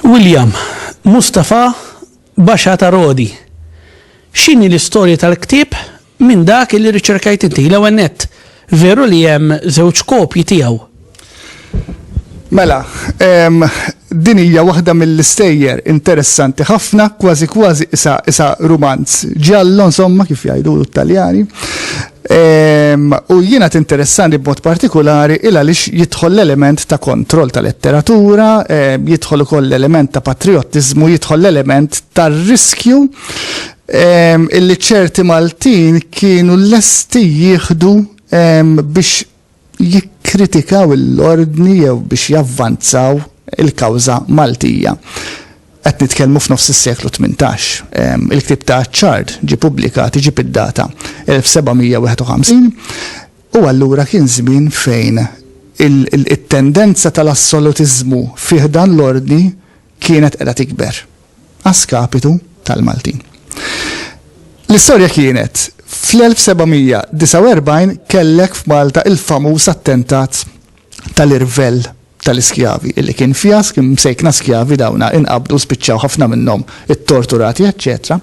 William, Mustafa Basha ta' Rodi. X'inhi l-istorja tal-ktieb Minn dak li riċerkajt inti, l-ewwel nett, veru li hemm żewġ kopji tiegħu? Mela, din hija waħda mill-istejjer interessanti ħafna, kważi kważi isa isa rumanz ġallo, insomma, kif jgħidu l-Italjani. U jiena tinteressani b'mod partikolari il għaliex jidħol l-element ta' kontroll ta' letteratura, jidħol ukoll l-element ta' patriottiżmu, jidħol l-element tar-riskju illi ċerti Maltin kienu lesti jieħdu biex jikkritikaw l-ordni jew biex javvanzaw il-kawża Maltija. Qed nitkellmu f'nofs is-seklu 18. Il-ktieb ta' Achard ġie pubblikat iġib id-data 1751 u allura kien żmien fejn it-tendenza tal-assolutiżmu fi ħdan l-ordni kienet qiegħda tikber. a skapitu tal-Maltin. L-istorja kienet, fl-1749 kellek f'Malta il-famuż attentat tal-irvell tal-iskjavi, illi kien fjask, imsejkna skjavi dawna, inqabdu, spiċċaw ħafna minnhom ittorturati, eċċetera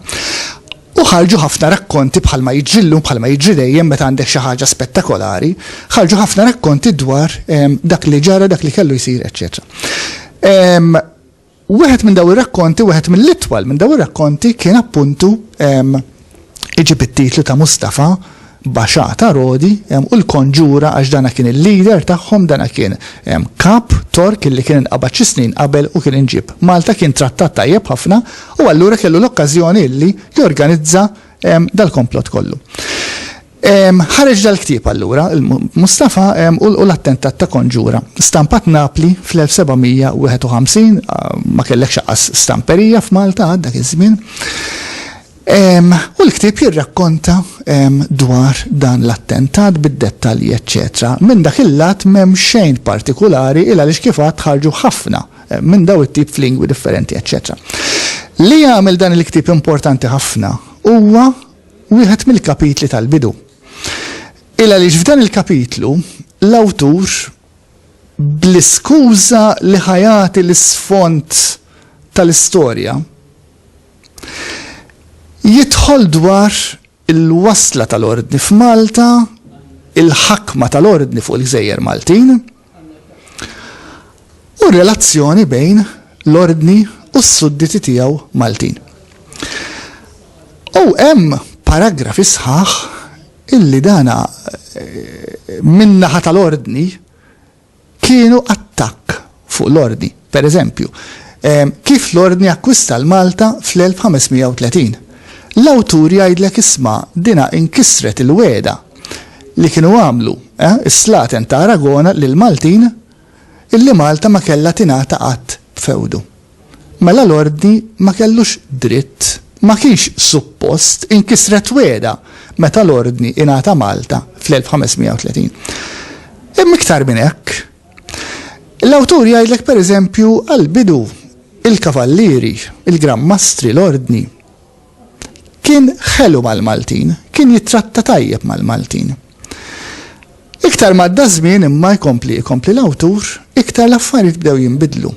U ħarġu ħafna rakkonti bħalma jiġri llum, bħalma jiġri dejjem meta għandek xi ħaġa spettakolari, ħarġu ħafna rakkonti dwar ehm, dak li ġara, dak li kellu jsir, eċċetera. Ehm, U wieħed minn daw ir-rakkonti, wieħed mill-itwal minn daw ir-rakkonti kien appuntu iġib it-titlu ta' Mustafa Basha ta' Rodi u l-Konġura għax dana kien il-leader tagħhom, dana kien kap Tork illi kien inqabad xi snin qabel u kien inġieb Malta, kien trattat tajjeb ħafna u allura kellu l-okkażjoni illi jorganizza dal-komplott kollu. Ħareġ dal-ktieb allura, Mustafa u l-attentat ta' Konġura, stampat Napli fl-1751, ma kellekx aqqas stamperija f'Malta għad dak iż-żmien, u l-ktieb jirrakkonta dwar dan l-attentat bid-dettalji eċċetera. Minn dak il-lat m'hemm xejn partikulari il għaliex kif għadt ħarġu ħafna minn daw it-tip f'lingwi differenti eċċetera. Li jagħmel dan il-ktieb importanti ħafna huwa wieħed mill-kapitli tal-bidu. Il għaliex f'dan il-kapitlu, l-awtur, bl-iskuża li ħa jagħti l-isfond tal-istorja, jidħol dwar il-wasla tal-Ordni f'Malta, il-ħakma tal-Ordni fuq il-gżejjer Maltin, u r-relazzjoni bejn l-Ordni u s-sudditi tiegħu Maltin. U hemm paragrafi sħaħ illi dana eh, min-naħa tal-Ordni kienu attakk fuq l-Ordni. Per eżempju, kif l-Ordni akkwista l-Malta fl-1530? L-awtur jgħidlek isma' dinha inkisret il-wegħda li kienu għamlu, eh, is-slaten ta' Aragona lill-Maltin illi Malta ma kellha tingħata qatt b'fewdu. Mela l-Ordni ma kellux dritt, ma kienx suppost inkisret wegħda meta l-Ordni ingħata Malta fl-1530. Imma iktar minn hekk, L-awtur jgħidlek pereżempju għall-bidu, il-kavallieri, il-gran mastri, l-ordni. Kien ħelu mal-Maltin, kien jittratta tajjeb mal-Maltin. Iktar m'għadda ż-żmien imma jkompli jkompli l-awtur, iktar l-affarijiet bdew jinbidlu.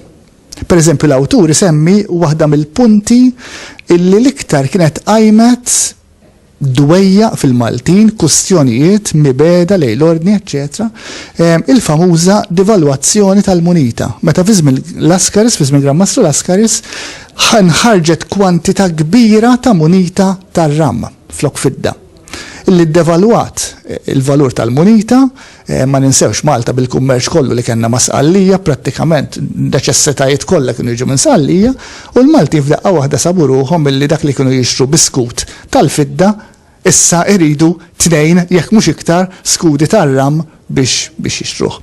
Pereżempju l-awtur isemmi waħda mill-punti illi l-iktar kienet qajmet dwejjaq fil-Maltin, kustjonijiet, mibegħda lejn l-ordni eċċetera, il-famuża devalwazzjoni tal-munita, meta fi żmien Laskaris, fi żmien Gran Mastru Laskaris, nħarġet kwantità kbira ta' munita tar-ram flok fidda, li ddevalwat il-valur tal-munita, Ma ninsewx Malta bil-kummerċ kollu li kellna ma' Sqallija, prattikament n-neċessitajiet kollha kienu jiġu minn Sqallija, u l-Maltin f'daqqa waħda sabu ruħhom milli dak li kienu jixtru bi skut tal-fidda issa iridu tnejn jekk mhux iktar skudi tar-ramm biex biex jixtruh.